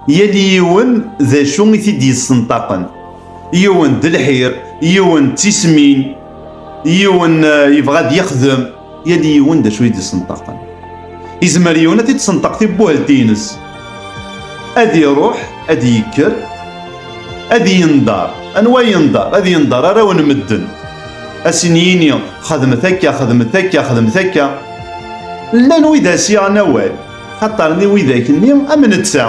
Yal yiwen d acu i t-id-yessenṭaqen. Yiwen d lḥir, yiwen d tismin, yiwen eh, yebɣa ad yexdem, yal yiwen d acu i d-yessenṭaqen. Izmer yiwen ad t-id-senṭaq tibuhelt-ines. Ad iruḥ, ad yekker, ad yendar. Anwa yendar? Ad yendar arraw n medden. Asin yini, xedmet akka, xedmet akka, xedmet akka. Llan wid as-yaɣen awal. Xaṭer-nni widak-nni am netta,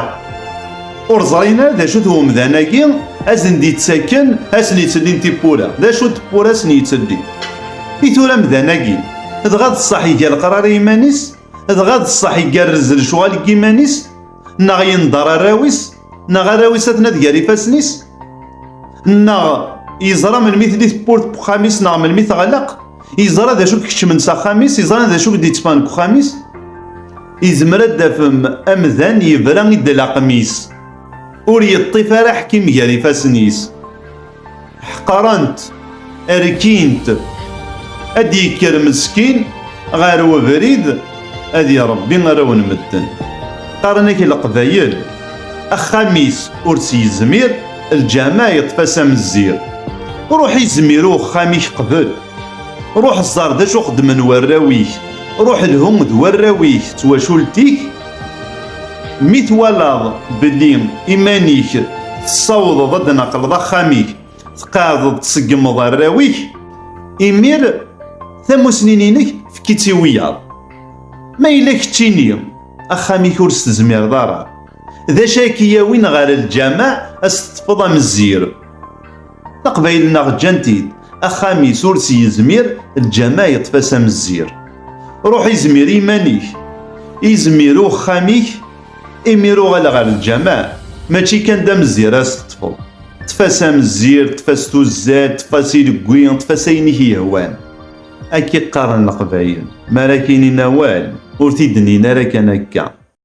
ur ẓrin ara d acu-t umdan-agi a sen-d-yettakken, a sen-yettellin tiwwura. D acu n tewwura a sen-yettellin i tura amdan-agi? Dɣa d ṣṣeḥ iga leqrar i yiman-is? Dɣa d ṣṣeḥ igerrez lecɣal n yiman-is? Neɣ yendeṛ arraw-is? neɣ arraw-is ad ad gar ifassen-is neɣ yeẓra melmi tli tewwurt n uxxam-is neɣ melmi teɣleq yeẓra d acu keččmen s axxam-is yeẓra d acu d-yettfan deg uxxam-is izmer ad d-afem amdan yebra i d-laqem-is ur yeṭṭif ara ḥkim gar ifassen-is ḥqarent rkint ad d-yekker meskin ɣer webrid ad irebbi arraw n medden qqaren-ak leqbayel axxam-is ur s-yezmir lǧama yeṭṭef-as amezzir ruḥ izmir i uxxam-ik qbel ruḥ ẓer d acu xeddmen warraw-ik ruḥ lhu d warraw-ik d twacult-ik Mi twalaḍ belli iman-ik tessawḍeḍ ad d-naqleḍ axxam-ik, tqeɛdeḍ tseggmeḍ arraw-ik, imir tamusni-inek efk-itt i wiyaḍ. Ma yella keččini, axxam-ik ur s-tezmireḍ ara. D acu ay k-yawin ɣer lǧameɛ ad s-teḍḍfeḍ amezzir? Taqbayl-nneɣ ǧǧan-t-id, axxam-is ur s-yezmir, lǧama yeṭṭef-as amezzir. Ruḥ izmir i iman-ik, izmir uxxam-ik, imir uɣal ɣer lǧama, mačči kan d amezzir ara s-teṭṭfeḍ. Ṭṭef-as amezzir, ṭṭef-as tuzzal, ṭṭef-as ilegwi, ṭṭef-as ayen i k-yehwan. Akka i qqaren Leqbayel, mi ara k-inin awal, ur t-id-nnin ara kan akka.